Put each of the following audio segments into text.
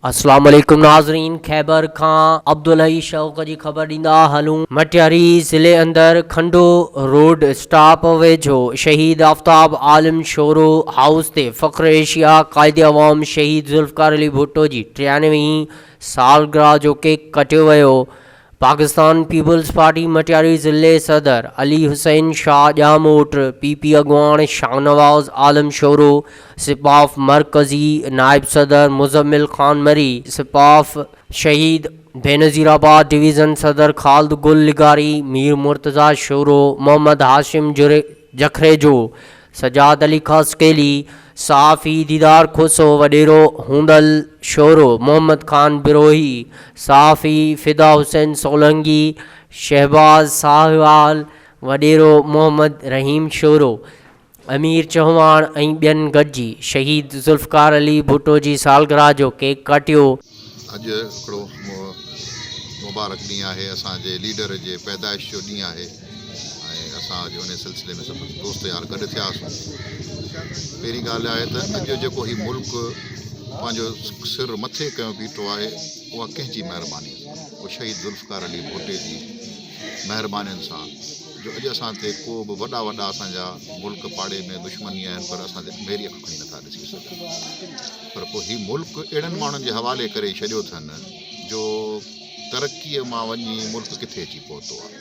اسلام عليڪم ناظرين خيبر کان عبدالحئي شوق جي خبر ڏيندا هلون مٽياري ضلعي اندر کنڊو روڊ اسٽاپ ويجهو شهيد آفتاب عالم شورو هائوس تي فخر ايشيا قائد عوام شهيد ذوالفقار علي ڀٽو جي ٽيانوي هين سالگرهه جو ڪيڪ ڪٽيو ويو پاڪستان پيپلز پارٽي مٽياري ضلعي صدر علي حسين شاهه ڄاموٽ، پي پي اڳواڻ شاهنواز عالم شورو، سپاف مرڪزي نائب صدر مزمل خان مري، سپاف شهيد بينظير آباد ڊويزن صدر خالد گل لغاري، مير مرتضيٰ شورو، محمد هاشم جکريجو، سجاد علي خاصخيلي، صحافي ديدار کوسو وڏيرو، هوندل شورو محمد خان بروهي، صحافي فدا حسين سولنگي، شهباز ساهوال وڏيرو، محمد رحيم شورو، امير چهواڻ ۽ ٻين گڏجي شهيد ذوالفقار علي ڀٽو جي سالگرهه جو ڪيڪ ڪاٽيو. اڄ هڪڙو مبارڪ ڏينهن آهي، اسان جي ليڊر جي پيدائش جو ڏينهن آهي. ۽ اسان اڄ انهيء سلسلي ۾ سندس دوست يار گڏ ٿيا هئاسون. پهرين ڳالهه آهي ته اڄ جيڪو هي ملڪ پنهنجو سر مٿي ڪيو بيٺو آهي، اها ڪنهن جي مهربانيء سان؟ اهو شهيد ذوالفقار علي ڀٽي جي مهربانين سان، جو اڄ اسان تي ڪو به وڏا وڏا اسان جا ملڪ پاڙي ۾ دشمني آهن پر اسان تي ميري اک کڻي نٿا ڏسي سگهن. پر پوء هي ملڪ اهڙن ماڻهن جي حوالي ڪري ڇڏيو اٿن، جو ترقيء مان وڃي ملڪ ڪٿي اچي پهتو آهي.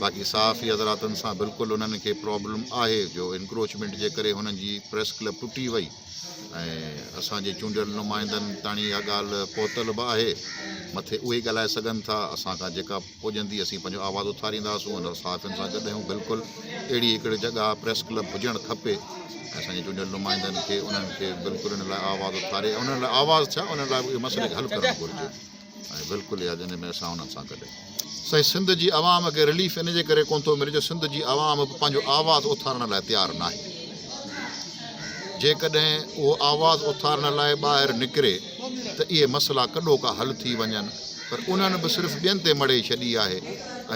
باقي صحافي حضراتن سان بلڪل انهن کي پرابلم آهي جو انڪروچمينٽ جي ڪري هنن جي پريس ڪلب ٽٽي وئي ۽ اسان جي چونڊيل نمائندن تاڻي اها ڳالهه پهتل به آهي مٿي اهي ڳالهائي سگهن ٿا اسان کان جيڪا پڄندي اسين پنهنجو آواز اٿارينداسون ان صحافين سان گڏ آهيون بلڪل اهڙي هڪڙي جڳهه پريس ڪلب هجڻ کپي ۽ اسان جي چونڊيل نمائندن کي انهن کي بلڪل ان لاء آواز اٿاري انهن لاء آواز ٿيا انهن لاء اهي مسئلي کي حل ڪرڻ گهرجي ۽ بلڪل اها جنهن ۾ اسان انهن سان گڏ. سائين سنڌ جي عوام کي رليف ان جي ڪري ڪونه ٿو ملي جو سنڌ جي عوام به پنهنجو آواز اٿارڻ لاء تيار ناهي جيڪڏهن اهو آواز اٿارڻ لاء ٻاهر نڪري ته اهي مسئلا ڪڏو ڪا حل ٿي وڃن پر انهن به صرف ٻين تي مڙهي ڇڏي آهي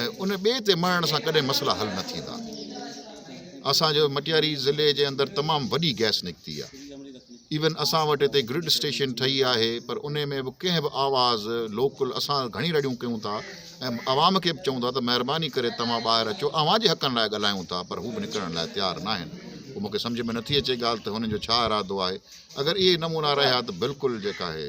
۽ ان ٻئي تي مڙهڻ سان ڪڏهن مسئلا حل نه ٿيندا اسان جو مٽياري ضلعي جي اندر تمام وڏي گئس نڪتي آهي. ايون اسان وٽ هتي گرڊ اسٽيشن ٺهي آهي پر انهي ۾ به ڪنهن به آواز لوڪل اسان گهڻي رڙيون ڪيون ٿا ۽ عوام کي به چئون ٿا ته مهرباني ڪري توهان ٻاهر اچو اوهان جي حقن لاء ڳالهايون ٿا پر هو به نڪرڻ لاء تيار ناهن پوء مونکي سمجهه ۾ نٿي اچي ڳالهه ته هنن جو ڇا ارادو آهي اگر اهي نمونا رهيا ته بلڪل جيڪا آهي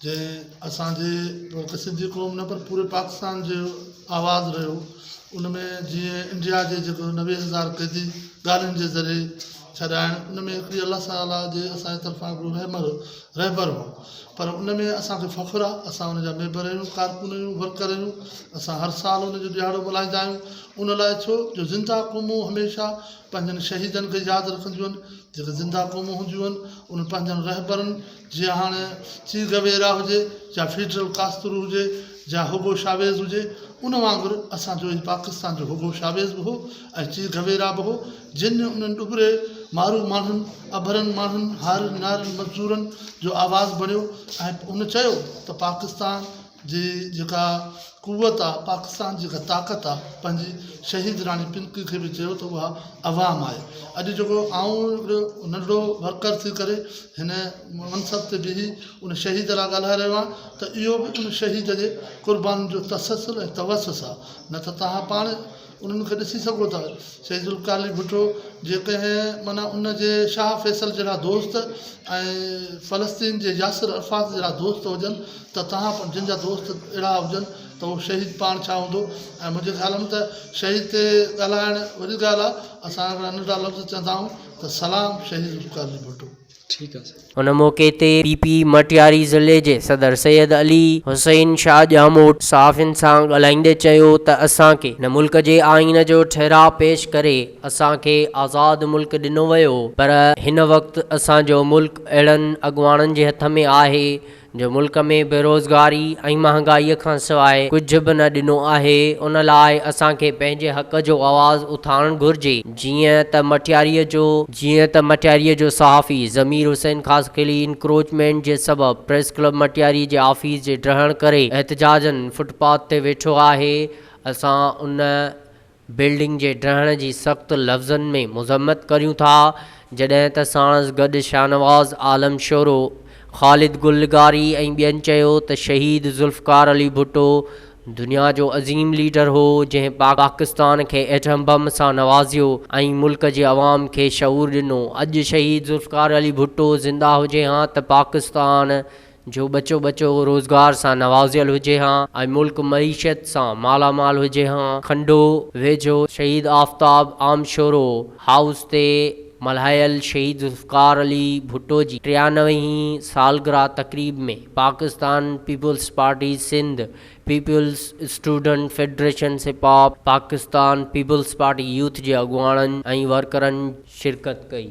جنهن اسان جي هڪ سنڌي قوم نه پر پوري پاڪستان جو آواز رهيو ان ۾ جيئن انڊيا جي جيڪو نوي هزار قيدي ڳالهين جي ذريعي ڇڏائڻ ان ۾ هڪڙي الله تعاليٰ جي اسان جي طرفان هڪڙو رحمر رهبر هو پر ان ۾ اسانکي فخر آهي اسان ان جا ميمبر آهيون ڪارڪن آهيون ورڪر آهيون اسان هر سال ان جو ڏيهاڙو ملهائيندا آهيون ان لاء ڇو جو زنده قومون هميشه پنهنجن شهيدن کي ياد رکنديون آهن جيڪي زنده قومون هونديون آهن انهن پنهنجن رهبرن جيئن هاڻ چيگويرا هجي يا فيڊرل ڪاسترو هجي يا هوگو شاويز هجي، ان وانگر اسان جو ئي پاڪستان جو هوگو شاويز به هو ۽ چيگويرا به هو، جن ۾ انهن ڏٻري مارو ماڻهن، اڀرن ماڻهن، هارين نارين مزدورن جو آواز بڻيو ۽ ان چيو ته پاڪستان. جي جيڪا قوت آ پاڪستان جي جيڪا طاقت آ پنهنجي شهيد راڻي پنڪ کي به چيو ته اها عوام آهي اڄ جيڪو آئون هڪڙو ننڍڙو ورڪر ٿي ڪري هن منصب تي بيهي ان شهيد لاء ڳالهائي رهيو آهيان ته اهو به ان شهيد جي قربانين جو تسلسل ۽ توسس آ نه ته تهان پاڻ انهن کي ڏسي سگهو ٿا. سيد ذوالقارعلي ڀٽو جيڪڏهن معنيٰ ان جي شاهه فيصل جهڙا دوست ۽ فلسطين جي ياسر عرفات جهڙا دوست هجن ته تهان پڻ جن جا دوست اهڙا هجن ته اهو شهيد پاڻ ڇا هوندو ۽ منهنجي خيال ۾ ته شهيد تي ڳالهائڻ وڏي ڳالهه آهي اسان هڪڙا ننڍڙا لفظ چوندا آهيون ته سلام شهيد ذوالقارعلي ڀٽو. ان موقعي تي پي پي مٽياري ضلعي جي صدر سيد علي حسين شاهه ڄاموٽ صحافين سان ڳالهائيندي چيو ته اسان کي هن ملڪ جي آئين جو ٺهراء پيش ڪري اسان کي آزاد ملڪ ڏنو ويو پر هن وقت اسان جو ملڪ اهڙن اڳواڻن جي هٿ ۾ آهي جو ملڪ ۾ بيروزگاري ۽ مهانگائي کان سواء ڪجهه به نه ڏنو آهي ان لاء اسان کي پنهنجي حق جو آواز اٿارڻ گهرجي جيئن ته مٽياري جو جيئن ته مٽياري جو صحافي ضمير حسين خاصخيلي انڪروچمينٽ جي سبب پريس ڪلب مٽياري جي آفيس جي ڊهڻ ڪري احتجاجن فٽ پاٿ تي ويٺو آهي اسان ان بلڊنگ جي ڊهڻ جي سخت لفظن ۾ مذمت ڪريون ٿا، جڏهن ته ساڻس گڏ شاهنواز عالم شورو، خالد گل لغاري ۽ ٻين چيو ته شهيد ذوالفقار علي ڀٽو دنيا جو عظيم ليڊر هو، جنهن پاڪستان کي ايٽم بم سان نوازيو ۽ ملڪ جي عوام کي شعور ڏنو، اڄ شهيد ذوالفقار علي ڀٽو زنده هجي ها ته پاڪستان جو ٻچو ٻچو روزگار سان نوازيل هجي ها ۽ ملڪ معيشت سان مالا مال هجي ها، کنڊو ويجهو شهيد آفتاب عام شورو هائوس تي ملهايل شهيد ذوالفقار علي ڀٽو جي ٽيانوي هين سالگرهه تقريب ۾ Pakistan peoples party Sindh, peoples student federation سپاپ، پاڪستان پيپلز پارٽي يوٿ جي اڳواڻن ۽ ورڪرن شرڪت ڪئي.